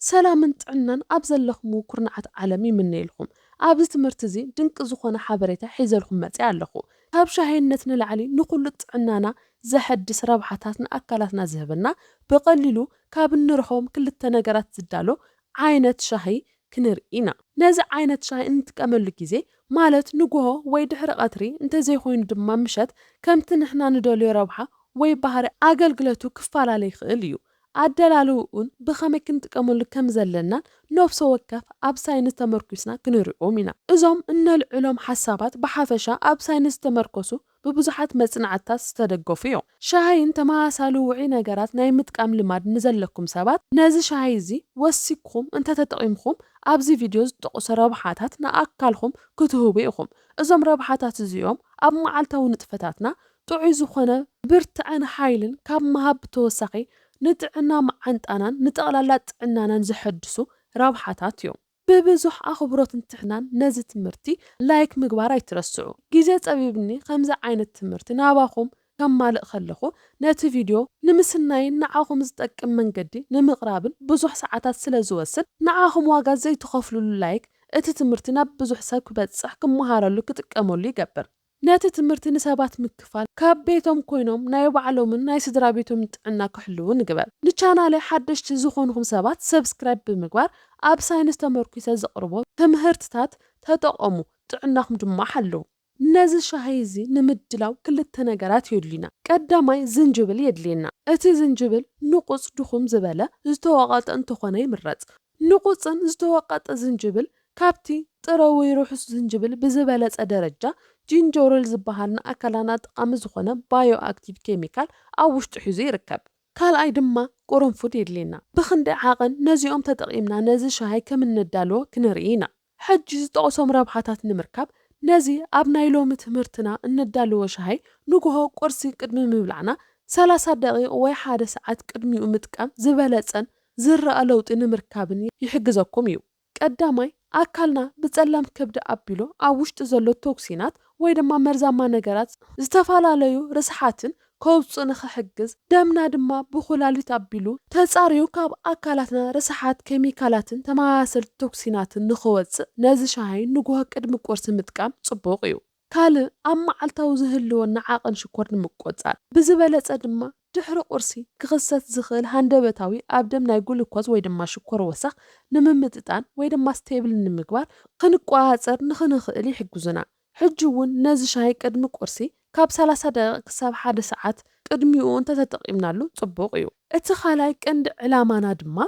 ሰላምን ጥዕናን ኣብ ዘለኽምዎ ኩርንዓት ዓለም ይምነየልኹም። ኣብዚ ትምህርቲ እዚ ድንቂ ዝኾነ ሓበሬታ ሒዘልኹም መጺኣ ኣለኹ። ካብ ሻሂነት ንላዕሊ ንኹሉ ጥዕናና ዘሐድስ ረብሓታት ንኣካላትና ዝህበና ብቐሊሉ ካብ እንረኽቦም ክልተ ነገራት ዝዳሎ ዓይነት ሻሂ ክንርኢ ኢና። ነዚ ዓይነት ሻሂ እንጥቀመሉ ግዜ ማለት ንጉሆ ወይ ድሕሪ ቐትሪ እንተዘይኾይኑ ድማ ምሸት ከምቲ ንሕና ንደልዮ ረብሓ ወይ ባህሪ ኣገልግለቱ ክፋላለ ይኽእል እዩ። ኣደላልውኡን ብኸመይ ክንጥቀመሉ ከም ዘለናን ነፍሶ ወከፍ ኣብ ሳይንስ ተመርኲስና ክንሪኦም ኢና። እዞም እነልዕሎም ሓሳባት ብሓፈሻ ኣብ ሳይንስ ዝተመርኮሱ ብብዙሓት መጽናዕትታት ዝተደገፉ እዮም። ሻሂን ተመሳሳሊ ውዑይ ነገራት ናይ ምጥቃም ልማድ ንዘለኩም ሰባት፣ ነዚ ሻሂ እዚ ወሲክኹም እንተ ተጠቒምኩም ኣብዚ ቪድዮ ዝጠቐሱ ረብሓታት ንኣካልኩም ክትህቡ ኢኹም። እዞም ረብሓታት እዚኦም ኣብ መዓልታዊ ንጥፈታትና ጥዑይ ዝኾነ ብርትዐን ሓይልን ካብ ምሃብ ብተወሳኺ ንጥዕና መዓንጣናን ንጠቕላላ ጥዕናናን ዘሐድሱ ረብሓታት እዮም። ብብዙሕ ኣኽብሮትን ትሕናን ነዚ ትምህርቲ ላይክ ምግባር ኣይትረስዑ። ግዜ ጸቢብኒ ከምዚ ዓይነት ትምህርቲ ናባኹም ከማልእ ከለኹ ነቲ ቪድዮ ንምስናይን ንዓኹም ዝጠቅም መንገዲ ንምቕራብን ብዙሕ ሰዓታት ስለ ዝወስድ ንዓኹም ዋጋ ዘይትኸፍሉሉ ላይክ እቲ ትምህርቲ ናብ ብዙሕ ሰብ ክበጽሕ ክመሃረሉ ክጥቀመሉ ይገብር። ነቲ ትምህርቲ ንሰባት ምክፋል ካብ ቤቶም ኮይኖም ናይ ባዕሎምን ናይ ስድራቤቶምን ጥዕና ክሕልዉ ንግበር። ንቻናለይ ሓደሽቲ ዝኾንኹም ሰባት ሰብስክራይብ ብምግባር ኣብ ሳይንስ ተመርኲሰ ዘቕርቦ ትምህርትታት ተጠቐሙ ጥዕናኹም ድማ ሓልዉ። ነዚ ሻሂ እዚ ንምድላው ክልተ ነገራት የድልዩና። ቀዳማይ ዝንጅብል የድልየና። እቲ ዝንጅብል ንቑጽ ድኹም ዝበለ ዝተወቐጠ እንተኾነ ይምረጽ። ንቑጽን ዝተወቀጠ ዝንጅብል ካብቲ ጥረ ወይ ርሑስ ዝንጅብል ብዝበለጸ ደረጃ ጂንጀሮል ዝበሃል ንኣካላና ጠቓሚ ዝኾነ ባዮኣክቲቭ ኬሚካል ኣብ ውሽጡ ሒዙ ይርከብ። ካልኣይ ድማ ቁርንፉድ የድልየና። ብኽንደይ ዓቐን ነዚኦም ተጠቒምና ነዚ ሻሂ ከም እነዳልዎ ክንርኢ ኢና። ሕጂ ዝጠቕሶም ረብሓታት ንምርካብ፣ ነዚ ኣብ ናይ ሎሚ ትምህርትና እነዳልዎ ሻሂ ንጉሆ ቁርሲ ቅድሚ ምብላዕና ሰላሳ ደቒቕ ወይ ሓደ ሰዓት ቅድሚኡ ምጥቃም ዝበለጸን ዝርኣ ለውጢ ንምርካብን ይሕግዘኩም እዩ። ቀዳማይ፣ ኣካልና ብጸላም ከብዲ ኣቢሉ ኣብ ውሽጡ ዘሎ ቶክሲናት ወይ ድማ መርዛማ ነገራት፣ ዝተፈላለዩ ርስሓትን ከውጽእ ንኽሕግዝ፣ ደምና ድማ ብኩላሊት ኣቢሉ ተጻርዩ ካብ ኣካላትና ርስሓት ኬሚካላትን ተመሳሰልቲ ቶክሲናትን ንኽወጽእ ነዚ ሻሂ ንጉሆ ቅድሚ ቁርሲ ምጥቃም ጽቡቕ እዩ። ካልእ ኣብ መዓልታዊ ዝህልወና ዓቕን ሽኮር ንምቆጻር፣ ብዝበለጸ ድማ ድሕሪ ቁርሲ ክኽሰት ዝኽእል ሃንደበታዊ ኣብ ደም ናይ ግሉኮዝ ወይ ድማ ሽኮር ወሰኽ ንምምጥጣን ወይ ድማ ስቴብል ንምግባር ክንቆጻጸር ንኽንኽእል ይሕግዙና። ሕጂ እውን ነዚ ሻሂ ቅድሚ ቁርሲ ካብ ሰላሳ ደቒቕ ክሳብ ሓደ ሰዓት ቅድሚኡ እንተተጠቒምናሉ ጽቡቕ እዩ። እቲ ካልኣይ ቀንዲ ዕላማና ድማ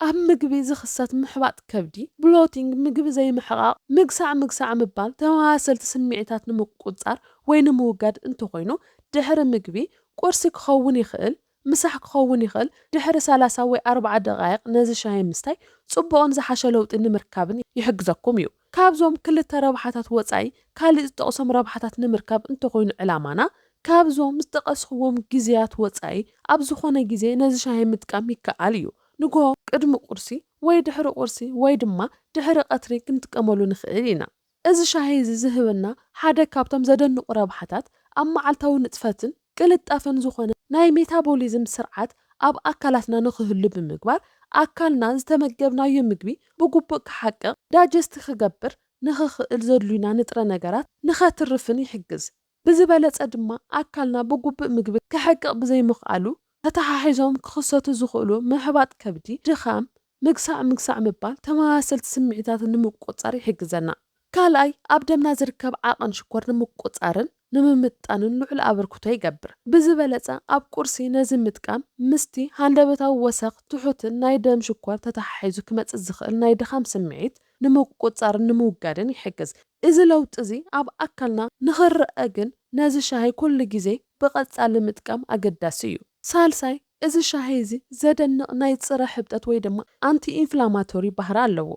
ኣብ ምግቢ ዝኽሰት ምሕባጥ ከብዲ፣ Bloating፣ ምግቢ ዘይምሕቓቕ፣ ምግሳዕ ምግሳዕ ምባል፣ ተመሳሰልቲ ስምዒታት ንምቁጽጻር ወይ ንምውጋድ እንተኾይኑ ድሕሪ ምግቢ ቁርሲ ክኸውን ይኽእል። ምሳሕ ክኸውን ይኽእል፣ ድሕሪ ሰላሳ ወይ ኣርባዓ ደቓይቕ ነዚ ሻሂ ምስታይ ጽቡቕን ዝሓሸ ለውጢ ንምርካብን ይሕግዘኩም እዩ። ካብዞም ክልተ ረብሓታት ወጻኢ ካልእ ዝጠቕሶም ረብሓታት ንምርካብ እንተኾይኑ ዕላማና፣ ካብዞም ዝጠቐስኽዎም ግዜያት ወጻኢ ኣብ ዝኾነ ግዜ ነዚ ሻሂ ምጥቃም ይከኣል እዩ። ንግሆ ቅድሚ ቁርሲ ወይ ድሕሪ ቁርሲ ወይ ድማ ድሕሪ ቀትሪ ክንጥቀመሉ ንኽእል ኢና። እዚ ሻሂ እዚ ዝህበና ሓደ ካብቶም ዘደንቑ ረብሓታት፣ ኣብ መዓልታዊ ንጥፈትን ቅልጣፈን ዝኾነ ናይ ሜታቦሊዝም ስርዓት ኣብ ኣካላትና ንኽህሉ ብምግባር፣ ኣካልና ዝተመገብናዮ ምግቢ ብግቡእ ክሓቅቕ፣ ዳጀስቲ ክገብር፣ ንኽኽእል ዘድልዩና ንጥረ ነገራት ንኸትርፍን ይሕግዝ። ብዝበለፀ ድማ ኣካልና ብጉብእ ምግቢ ከሕቅቕ ብዘይምኽኣሉ ተተሓሒዞም ክኽሰቱ ዝኽእሉ ምሕባጥ ከብዲ፣ ድኻም፣ ምግሳዕ ምግሳዕ ምባል ተመሳሰልቲ ስምዒታት ንምቁፅፃር ይሕግዘና። ካልኣይ ኣብ ደምና ዝርከብ ዓቐን ሽኮር ንምቁፅፃርን ንምምጥጣንን ልዑል ኣበርክቶ ይገብር። ብዝበለፀ ኣብ ቁርሲ ነዚ ምጥቃም ምስቲ ሃንደበታዊ ወሰኽ ትሑትን ናይ ደም ሽኮር ተተሓሒዙ ክመፅእ ዝኽእል ናይ ድኻም ስምዒት ንምቁጽጻርን ንምውጋድን ይሕግዝ። እዚ ለውጢ እዚ ኣብ ኣካልና ንኽረኣ ግን ነዚ ሻሂ ኩሉ ግዜ ብቐጻሊ ምጥቃም ኣገዳሲ እዩ። ሳልሳይ፣ እዚ ሻሂ እዚ ዘደንቕ ናይ ጽረ ሕብጠት ወይ ድማ ኣንቲ-ኢንፍላማቶሪ ባህሪ ኣለዎ።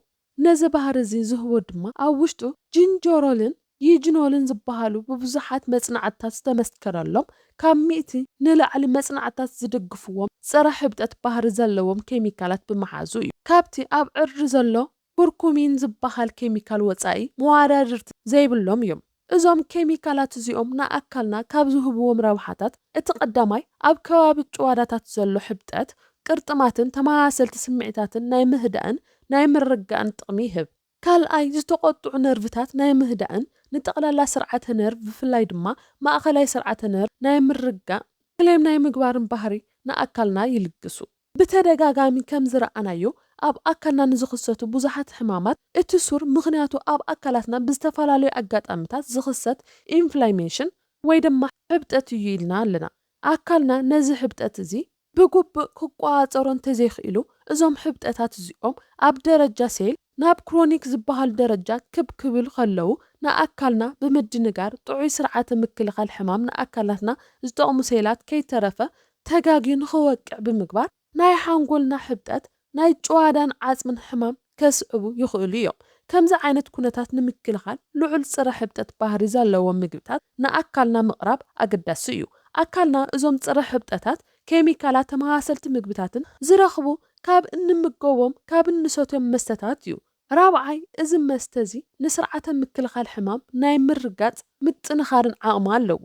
ነዚ ባህሪ እዚ ዝህቦ ድማ ኣብ ውሽጡ ጂንጀሮልን ዪጅኖልን ዝበሃሉ ብብዙሓት መጽናዕትታት ዝተመስከረሎም ካብ ሚእቲ ንላዕሊ መጽናዕትታት ዝድግፍዎም ጸረ ሕብጠት ባህሪ ዘለዎም ኬሚካላት ብምሓዙ እዩ። ካብቲ ኣብ ዕርዲ ዘሎ ኩርኩሚን ዝበሃል ኬሚካል ወጻኢ መዋዳድርቲ ዘይብሎም እዮም። እዞም ኬሚካላት እዚኦም ንኣካልና ካብ ዝህብዎም ረብሓታት እቲ ቀዳማይ ኣብ ከባቢ ጭዋዳታት ዘሎ ሕብጠት ቅርጥማትን ተመሳሰልቲ ስምዒታትን ናይ ምህዳእን ናይ ምርጋእን ጥቕሚ ይህብ። ካልኣይ፣ ዝተቖጥዑ ነርቭታት ናይ ምህዳእን ንጠቕላላ ስርዓተ ነርቭ ብፍላይ ድማ ማእኸላይ ስርዓተ ነርቭ ናይ ምርጋእ፣ ክሌም ናይ ምግባርን ባህሪ ንኣካልና ይልግሱ። ብተደጋጋሚ ከም ዝረኣናዮ ኣብ ኣካልና ንዝኽሰቱ ብዙሓት ሕማማት እቲ ሱር ምኽንያቱ ኣብ ኣካላትና ብዝተፈላለዩ ኣጋጣምታት ዝኽሰት ኢንፍላሜሽን ወይ ድማ ሕብጠት እዩ ኢልና ኣለና። ኣካልና ነዚ ሕብጠት እዚ ብግቡእ ክቆጻጸሮ እንተዘይክኢሉ፣ እዞም ሕብጠታት እዚኦም ኣብ ደረጃ ሴል ናብ ክሮኒክ ዝበሃል ደረጃ ክብ ክብሉ ከለዉ፣ ንኣካልና ብምድንጋር ጥዑይ ስርዓተ ምክልኻል ሕማም ንኣካላትና ዝጠቕሙ ሴላት ከይተረፈ ተጋግዩ ንኽወቅዕ ብምግባር ናይ ሓንጎልና ሕብጠት ናይ ጭዋዳን ዓጽምን ሕማም ከስዕቡ ይኽእሉ እዮም። ከምዚ ዓይነት ኩነታት ንምክልኻል ልዑል ጽረ ሕብጠት ባህሪ ዘለዎም ምግብታት ንኣካልና ምቕራብ ኣገዳሲ እዩ። ኣካልና እዞም ጽረ ሕብጠታት ኬሚካላት ተመሳሰልቲ ምግብታትን ዝረኽቡ ካብ እንምገቦም ካብ እንሰትዮም መስተታት እዩ። ራብዓይ፣ እዚ መስተ እዚ ንስርዓተ ምክልኻል ሕማም ናይ ምርጋጽ ምጥንኻርን ዓቕሚ ኣለዎ።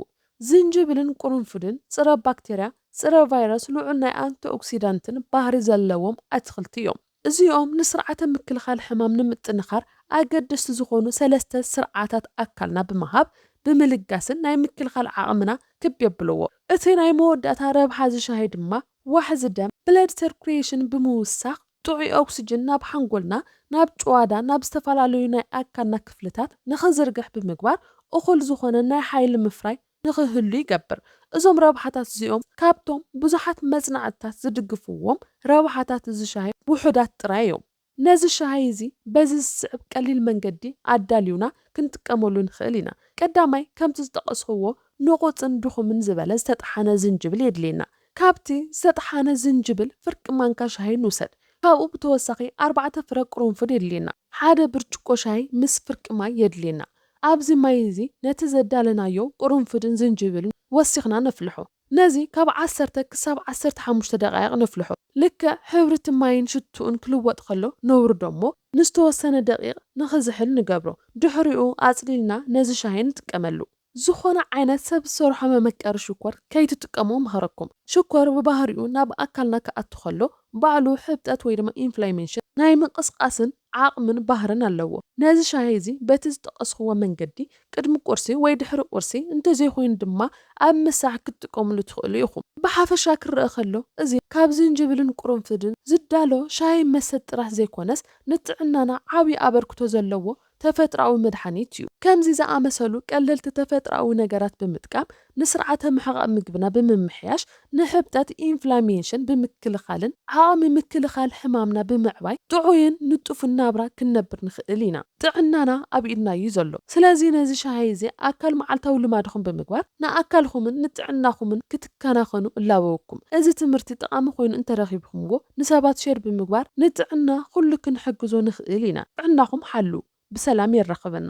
ዝንጅብልን ቁርንፉድን ጽረ ባክተርያ፣ ጽረ ቫይረስ ልዑል ናይ ኣንቲኦክሲዳንትን ባህሪ ዘለዎም ኣትኽልቲ እዮም። እዚኦም ንስርዓተ ምክልኻል ሕማም ንምጥንኻር ኣገደስቲ ዝኾኑ ሰለስተ ስርዓታት ኣካልና ብምሃብ፣ ብምልጋስን ናይ ምክልኻል ዓቕምና ክብ የብልዎ። እቲ ናይ መወዳእታ ረብሓ እዚ ሻሂ ድማ ዋሕዚ ደም፣ Blood Circulation፣ ብምውሳኽ ጥዑይ ኦክስጅን ናብ ሓንጎልና፣ ናብ ጭዋዳ፣ ናብ ዝተፈላለዩ ናይ ኣካልና ክፍልታት ንኽዝርግሕ ብምግባር እኹል ዝኾነ ናይ ሓይሊ ምፍራይ ንኽህሉ ይገብር። እዞም ረብሓታት እዚኦም ካብቶም ብዙሓት መጽናዕትታት ዝድግፍዎም ረብሓታት እዚ ሻሂ ውሑዳት ጥራይ እዮም። ነዚ ሻሂ እዚ በዚ ዝስዕብ ቀሊል መንገዲ ኣዳልዩና ክንጥቀመሉ ንኽእል ኢና። ቀዳማይ ከምቲ ዝጠቐስኹዎ ንቑጽን ድኹምን ዝበለ ዝተጠሓነ ዝንጅብል የድልየና። ካብቲ ዝተጠሓነ ዝንጅብል ፍርቂ ማንካ ሻሂ ንውሰድ። ካብኡ ብተወሳኺ ኣርባዕተ ፍረ ቅሩንፉድ የድልየና። ሓደ ብርጭቆ ሻሂ ምስ ፍርቂ ማይ የድልየና። ኣብዚ ማይ እዚ ነቲ ዘዳለናዮ ቅሩንፉድን ዝንጅብልን ወሲኽና ነፍልሖ። ነዚ ካብ ዓሰርተ ክሳብ ዓሰርተ ሓሙሽተ ደቓይቕ ነፍልሖ። ልክዕ ሕብሪ እቲ ማይን ሽትኡን ክልወጥ ከሎ ነውርዶ እሞ ንዝተወሰነ ደቒቕ ንኽዝሕል ንገብሮ። ድሕሪኡ ኣጽሊልና ነዚ ሻሂ ንጥቀመሉ። ዝኾነ ዓይነት ሰብ ዝሰርሖ መመቀሪ ሽኮር ከይትጥቀሙ እመኽረኩም። ሽኮር ብባህሪኡ ናብ ኣካልና ክኣቱ ከሎ ባዕሉ ሕብጠት ወይ ድማ ኢንፍላሜሽን፣ ናይ ምንቕስቓስን ዓቕምን ባህርን ኣለዎ። ነዚ ሻሂ እዚ በቲ ዝጠቐስኹዎ መንገዲ ቅድሚ ቁርሲ ወይ ድሕሪ ቁርሲ እንተዘይኮይኑ ድማ ኣብ ምሳሕ ክትጥቀምሉ ትኽእሉ ኢኹም። ብሓፈሻ ክረኣ ከሎ እዚ ካብ ዝንጅብልን ቁርንፍድን ዝዳሎ ሻሂ መሰጥ ጥራሕ ዘይኮነስ ንጥዕናና ዓብዪ ኣበርክቶ ዘለዎ ተፈጥሮኣዊ መድሓኒት እዩ። ከምዚ ዝኣመሰሉ ቀለልቲ ተፈጥሮኣዊ ነገራት ብምጥቃም ንስርዓተ ምሕቓቕ ምግብና ብምምሕያሽ ንሕብጠት፣ ኢንፍላሜንሽን፣ ብምክልኻልን ዓቕሚ ምክልኻል ሕማምና ብምዕባይ ጥዑይን ንጡፍን ናብራ ክንነብር ንኽእል ኢና። ጥዕናና ኣብ ኢድና እዩ ዘሎ። ስለዚ ነዚ ሻሂ እዚ ኣካል መዓልታዊ ልማድኹም ብምግባር ንኣካልኹምን ንጥዕናኹምን ክትከናኸኑ እላበወኩም። እዚ ትምህርቲ ጠቓሚ ኮይኑ እንተረኺብኩምዎ፣ ንሰባት ሼር ብምግባር ንጥዕና ኩሉ ክንሕግዞ ንክእል ኢና ጥዕናኩም ሓልው ብሰላም የራክበና።